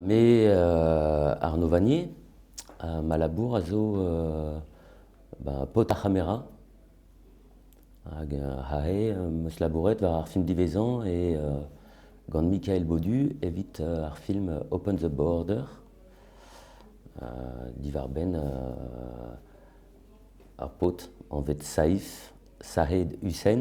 Me, Arno Vanier, ma labour a zo paotr ar c'hamera hag aze 'm eus labouret war ar film diwezhañ e gant Mikael Baudu evit ar film Open the Border diwar-benn ar paotr anvet Saif, Sahed Hussein.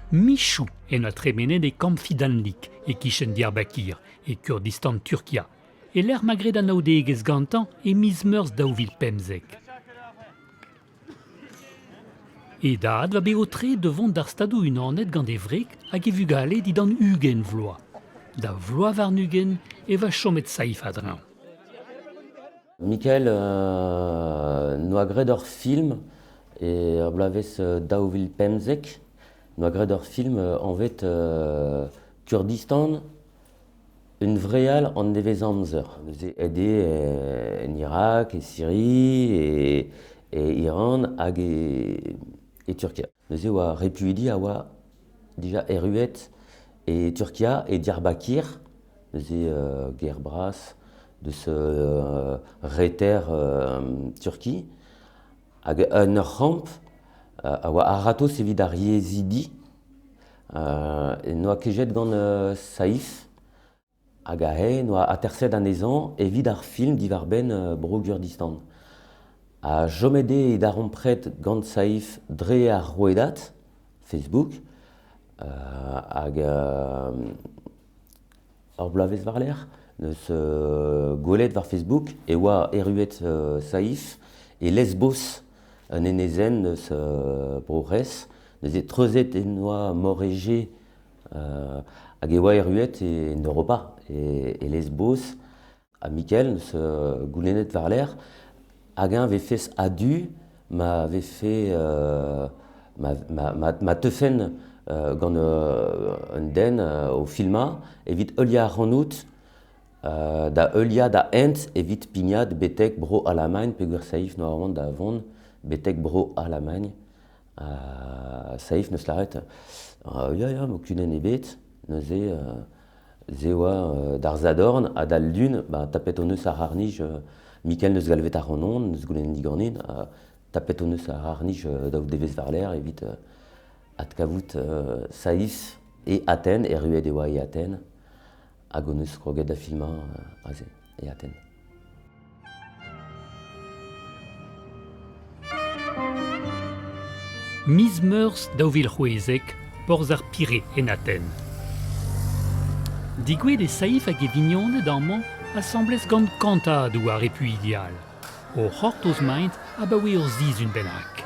Michoù en doa tremenet e kamp Fidanlik, e-kichen Diyarbakir, e Kurdistan Turkia, e-lec'h ma gred anaoudegezh gantañ e miz Meurzh daou vil pemzek. E dad oa bet aotre da vont d'ar Stadoù-Unanet gant e wreg hag e vugale dindan ugent vloaz. Da vloaz warn-ugent e oa chomet saif a-dreñv. Michael noa graet ur film er bloavezh daou vil pemzek. Noa graet ur film anvet Kurdistan, un vreal an nevezamzer. Neuze aet eo en Irak, e Siri, e Iran hag e Turkia. Neuze oa repuidi a oa dija erruet e Turkia e Diyarbakir, neuze ger bras deus reter Turki, hag un ur c'hamp a oa a-ratozh evit ar yezhidi, n'oa ket jet gant Saif. Hag eñ oa aterset anezhañ evit ar film diwar-benn Bro-Gurdistan. Ha chomet eo e darempred gant Saif dre ar rouedad Facebook hag ur bloavezh war-lerc'h neus gwelet war Facebook e oa erruet Saif e Lesbos, un enezenn eus Bro-C'hres. Neuze treuzet en doa Mor Egée hag e oa erruet en Europa, e Lesbos. Ha Michael, neus goulennet war-lerc'h, hag eñ 'vefes a-du ma vefe ma teufen gant un den o filmañ evit heuliañ ac'hanout da heuliañ da hent evit pignat betek Bro-Alamagn peogwir 'saif normand da vont betek Bro-Alamagn. Ha Saif neus lâret, ya ya, ma kudenn ebet, neuze se oa d'ar sadorn ha d'al lun, bah tapet hon eus ar c'harr-nij, Mikel neus galvet ac'hanon, neus goulennet diganin, tapet hon eus ar c'harr-nij daou devezh war-lerc'h evit adkavout Saïs e Athènes, erruet e oa e Athènes, hag hon eus kroget da filmañ aze, e Aten. Miz Meurzh daou vil c'hwezek, porzh ar Pirée en Aten. Digouet e Saif hag e vignoned amañ asambles gant kantadoù ar repuidi all, o c'hortoz-maint abaoe ur sizhun bennak.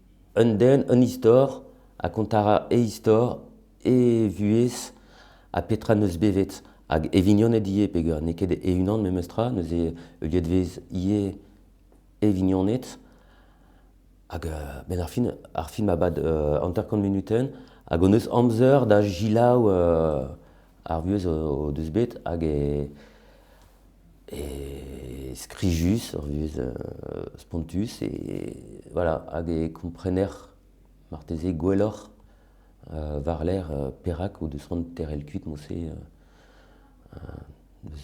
Un den, un istor, ha kontañ a ra e istor, e vuhez ha petra 'neus bevet. Hag e vignoned ivez peger n'eo ket e-unan memestra, neuze heuliet 'vez ivez e vignoned. Hag benn ar fin, ar film a bad hanter-kant munutenn hag hon eus amzer da gelaou Ar vuhez o deus bet hag e skrijus, ur vuhez spontus, e voilà, hag e komprener marteze gwelloc'h war-lerc'h perak o deus c'hoant teurel kuit mouse. deus